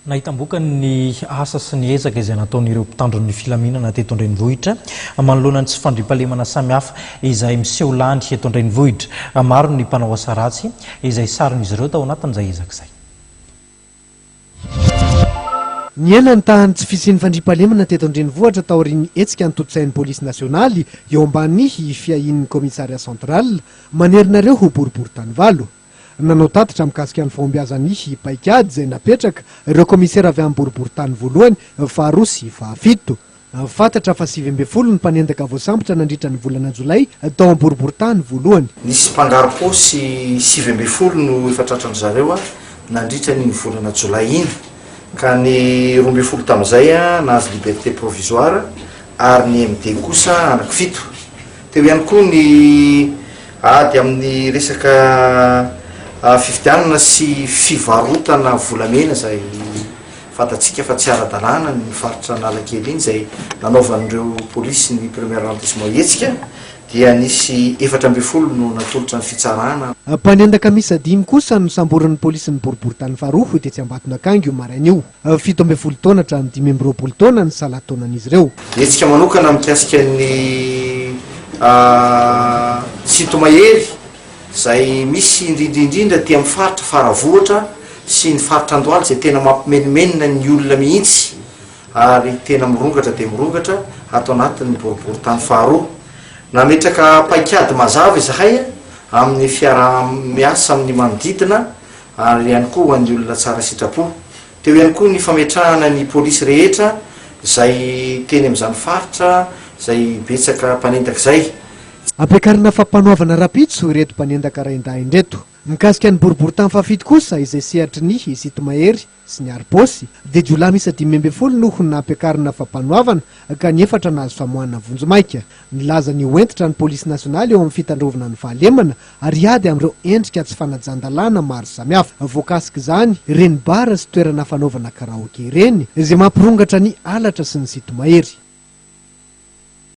Nahitam-bokany ny asa sy ny ezaka izay nataon'ireo mpitandro ny filaminana teto an-drenivohitra manoloana ny tsy fandriampahalemana samihafa izay miseho lany eto an-drenivohitra. Maro ny mpanao asa ratsy izay saron'izy ireo tao anatin'izay ezaka izay. Nihena ny tahan'ny tsy fisian'ny fandriampahalemana teto an-drenivohitra taorian'ny hetsika notontosain'ny polisy nasionaly eo ambany fiahian'ny Commissariat central manerana ireo boriborintany valo. Nanao tatitra mikasika ny fahombiazan'ny paikady izay napetraka ireo kaomisera avy amin'ny boriborintany voalohany, faharoa sy fahafito. Fantatra fa sivy ambin'ny folo ny mpanendaka voasambotra nandritra ny volana jolay tao amin'ny boriborintany voalohany. Nisy mpangarom-paosy sivy ambin'ny folo no efa tratran-dry zareo nandritra an'iny volana jolay iny, ka ny roa ambin'ny folo tamin'izay nahazo liberté provisoire ary ny MD kosa anankifito. Teo ihany koa ny ady amin'ny resaka fifidianana sy fivarotana volamena izay fantatsika fa tsy ara-dalàna ny faritra Analakely iny izay nanaovan'ireo polisy ny premier arrondissement hetsika dia nisy efatra ambin'ny folo no natolotra ny fitsarana. Mpanendaka miisa dimy kosa nosamborin'ny polisin'ny boriborintany faharoa tetsy Ambatonakanga io maraina io. Fito ambin'ny folo taona hatramin'ny dimy amby roapolo taona ny salan-taonan'izy ireo. Hetsika manokana mikasika ny sinto-mahery izay misy indrindra indrindra aty amin'ny faritra Faravohitra sy ny faritra Andohalo izay tena mampimenomenona ny olona mihitsy ary tena mirongatra dia mirongatra ato anatin'ny boriborintany faharoa. Nametraka paikady mazava izahay amin'ny fiaraha-miasa amin'ny manodidina. ary ihany koa ho an'ny olona tsara sitrapo. Teo ihany koa ny fametrahana ny polisy rehetra izay teny amin'izany faritra izay betsaka mpanendaka izay. Ampiakarina fampanoavana rahampitso ireto mpanendaka rain-dahiny ireto. Mikasika ny boriborintany fahafito kosa izay sehatry ny Isito Mahery, sy ny aribôsy, dia jiolahy miisa dimy ambin'ny folo no ho nampiakarina fampanoavana ka ny efatra nahazo famoahana vonjimaika. Nilaza ny ho hentitra ny pôlisy nasionaly eo amin'ny fitandrovana ny fahalemana ary hiady amin'ireo endrika tsy fanajan-dalàna maro samihafa. Voakasik'izany ireny bara sy toerana fanaovana karaoke ireny izay mampirongatra ny halatra sy ny sinto-mahery.